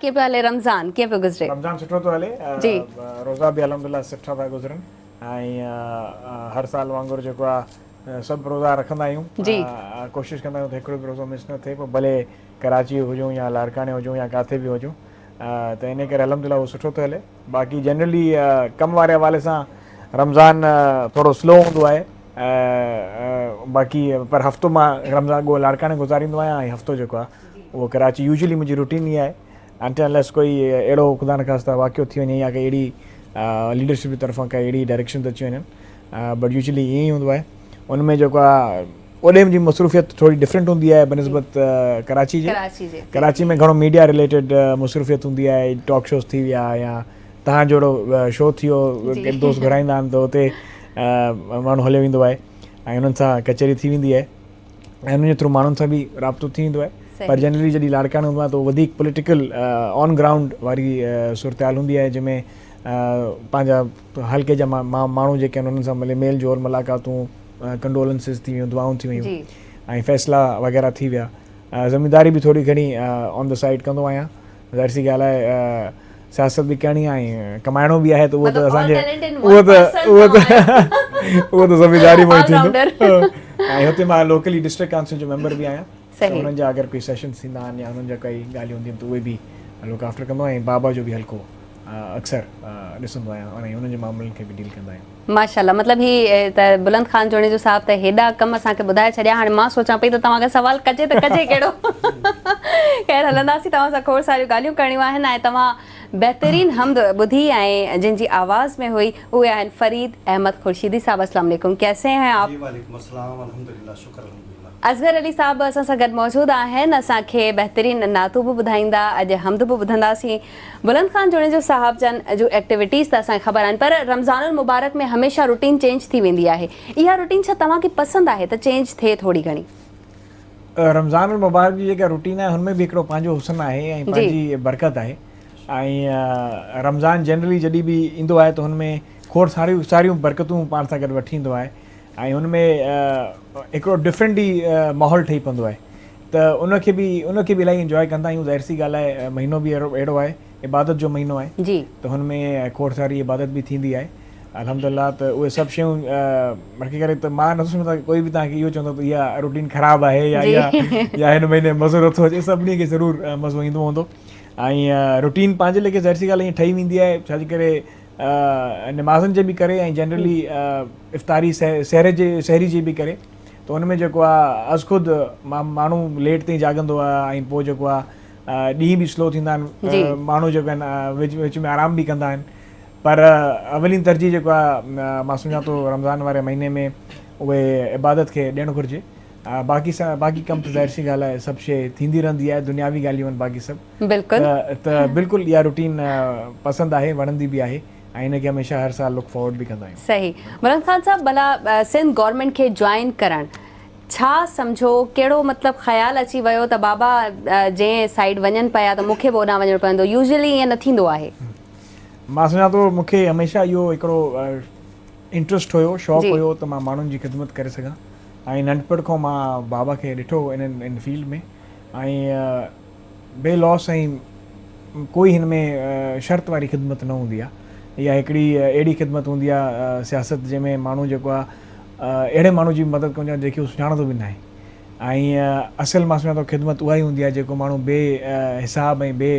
ڪيئن پيو هلي رمضان ڪيئن پيو گذري. رمضان سٺو ٿو هلي جي. روزا به الحمدلله سٺا ٿا گذرن ۽ هر سال وانگر جيڪو آ سڀ روزا رکندا آهيون جي. ڪوشش ڪندا آهيون ته هڪڙو به روزو مس نه ٿئي پوء ڀلي ڪراچي هجون يا لاڙڪاڻي هجون يا ڪاٿي به هجون ته انهي ڪري الحمدلله اهو سٺو ٿو هلي باقي جنرلي ڪم واري حوالي سان رمضان ٿورو سلو هوندو آهي باقي پر هفتو مان رمضان ڳوهه لاڙڪاڻي گذاريندو آهيان ۽ هفتو جيڪو آ اهو ڪراچي يوزلي منهنجي روٽين ئي آهي انٽل انليس ڪوئي اهڙو خدا نخواسته واقعو ٿي وڃي يا ڪي اهڙي ليڊرشپ جي طرفان ڪا اهڙي ڊائريڪشن ته اچي وڃن بٽ يوزلي ائين ئي هوندو آهي ان ۾ جيڪو آهي اوڏي جي مصروفيت ٿوري ڊفرنٽ هوندي آهي بنسبت ڪراچي جي ڪراچي ۾ گهڻو ميڊيا ريليٽيڊ مصروفيت هوندي آهي ٽاڪ شوز ٿي ويا يا تهان جهڙو شو ٿي ويو دوست گهرائيندا آهن ته اتي ماڻهو هليو ويندو آهي ۽ انهن سان ڪچهري ٿي ويندي آهي ۽ انهن جي ٿرو ماڻهن سان به رابطو ٿي ويندو آهي پر جنرلي جڏهن لاڙڪاڻي هوندو آهيان ته وڌيڪ پوليٽيڪل آن گرائونڊ واري صورتحال هوندي آهي جنهن ۾ پنهنجا حلقي جا ماڻهو جيڪي آهن انهن سان ملي ميل جول ملاقاتون ڪنڊولنسز ٿي ويون دعائون ٿي ويون ۽ فيصلا وغيره ٿي ويا ذميداري به ٿوري گهڻي آن دا سائيڊ ڪندو آهيان ظاهر سي ڳالهه آهي سياست به ڪرڻي آهي ۽ ڪمائڻو به آهي ته اهو ته اسان اهو ته ذميواري مون ٿيندو ۽ هتي مان لوڪلي ڊسٽرڪٽ ڪائونسل جو ميمبر به آهيان انهن جا اگر ڪوئي سيشنز ٿيندا آهن يا انهن جا ڪوئي ڳالهيون هونديون ته اهي به لوڪ آفٽر ڪندو آهيان ۽ بابا جو به حلقو اڪثر ڏسندو آهيان ۽ انهن جي معاملن کي به ڊيل ڪندا آهيون ماشاءالله مطلب هي ته بلند خان جوڻيجو صاحب ته هيڏا ڪم اسان کي ٻڌائي ڇڏيا هاڻي مان سوچان پئي ته توهان کان سوال ڪجي ته ڪجي ڪهڙو خير هلنداسين توهان سان کوڙ ساريون ڳالهيون ڪرڻيون آهن ۽ توهان بهترين حمد ٻڌي ۽ جن جي آواز ۾ هئي اهي آهن فريد احمد خورشيدي صاحب السلام عليڪم ڪيسي هين آپ. جي وعليڪم السلام الحمدلله شڪر الحمدلله. اصغر علي صاحب اسان سان گڏ موجود آهن اسان کي بهترين نعتون به ٻڌائيندا اڄ حمد به ٻڌنداسين. بلند خان جوڻيجو صاحب جن جون ايڪٽيوٽيز ته اسان کي خبر آهن پر رمضان المبارڪ ۾ هميشه روٽين چينج ٿي ويندي آهي اها روٽين ڇا توهان کي پسند آهي ته چينج ٿئي ٿوري گهڻي. رمضان المبارڪ جي جيڪا روٽين آهي هن ۾ به هڪڙو پنهنجو حسن آهي ۽ پنهنجي برڪت آهي ۽ رمضان جنرلي جڏهن به ايندو آهي ته هن ۾ کوڙ ساريون ساريون برڪتون پاڻ سان گڏ وٺي ايندو آهي. ۽ ان ۾ هڪڙو ڊفرنٽ ئي ماحول ٺهي پوندو آهي ته ان کي به ان کي به الاهي انجوائي ڪندا آهيون ظاهر سي ڳالهه آهي مهينو به اهڙو آهي عبادت جو مهينو آهي جي ته هن ۾ کوڙ ساري عبادت به ٿيندي آهي الحمدلله ته اهي سڀ شيون بلڪه ڪري ته مان نٿو سمجهان ڪوئي به توهان کي اهو چوندو ته اها روٽين خراب آهي يا اها يا هن مهيني مزو نٿو اچي سڀني کي ضرور مزو ايندو هوندو ۽ روٽين پنهنجي ليکي ظاهر سي ڳالهه ٺهي ويندي آهي ڇاجي ڪري نمازن جي به ڪري ۽ جنرلي افطاري سحر جي سحري جي به ڪري ته ان ۾ جيڪو آهي از خود ماڻهو ليٽ تائين جاڳندو آهي ۽ پوء جيڪو آهي ڏينهن به سلو ٿيندا آهن ماڻهو جيڪو آهن وچ وچ ۾ آرام به ڪندا آهن پر اولين ترجيح جيڪو آهي مان سمجھان ٿو رمضان واري مهيني ۾ اهي عبادت کي ڏيڻ گھرجي باقي سا باقي ڪم ته ظاهر سي ڳالهه آهي سڀ شيء ٿيندي رهندي آهي دنياوي ڳالهيون آهن باقي سڀ بلڪل. ته بلڪل اها روٽين پسند آهي وڻندي به آهي ۽ ان کي هميشه هر سال لڪ فارورڊ به ڪندا آهيون. صحيح مراد خان صاحب ڀلا سنڌ گورنمينٽ کي جوائن ڪرڻ ڇا سمجهو ڪهڙو مطلب خيال اچي ويو ته بابا جنهن سائيڊ وڃن پيا ته مونکي به اوڏانهن وڃڻو پوندو يوزلي ائين نه ٿيندو آهي. مان سمجهان ٿو مونکي هميشه اهو هڪڙو انٽرسٽ هيو شوق هيو ته مان ماڻهن جي خدمت ڪري سگهان ۽ ننڍپڻ کان مان بابا کي ڏٺو ان فيلڊ ۾ ۽ بي لاس ۽ ڪوئي هن ۾ شرط واري خدمت نه هوندي آهي. اها هڪڙي اهڙي خدمت هوندي آهي سياست جنهن ۾ ماڻهو جيڪو آهي اهڙي ماڻهو جي به مدد ڪندو آهي جيڪي هو سڃاڻندو به ناهي ۽ اصل مان سمجهان ٿو خدمت اها ئي هوندي آهي جيڪو ماڻهو بي حساب ۽ بي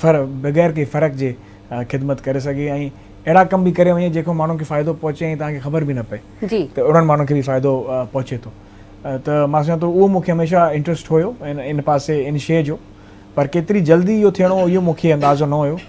فر بغير ڪنهن فرق جي خدمت ڪري سگهي ۽ اهڙا ڪم به ڪري وڃي جيڪو ماڻهن کي فائدو پهچي ۽ توهان کي خبر به نه پئي ته اهڙن ماڻهن کي به فائدو پهچي ٿو. ته مان سمجهان ٿو اهو مون کي هميشه انٽرسٽ هيو ان پاسي ان شيء جو پر ڪيتري جلدي اهو ٿيڻو اهو مون کي اندازو نه هيو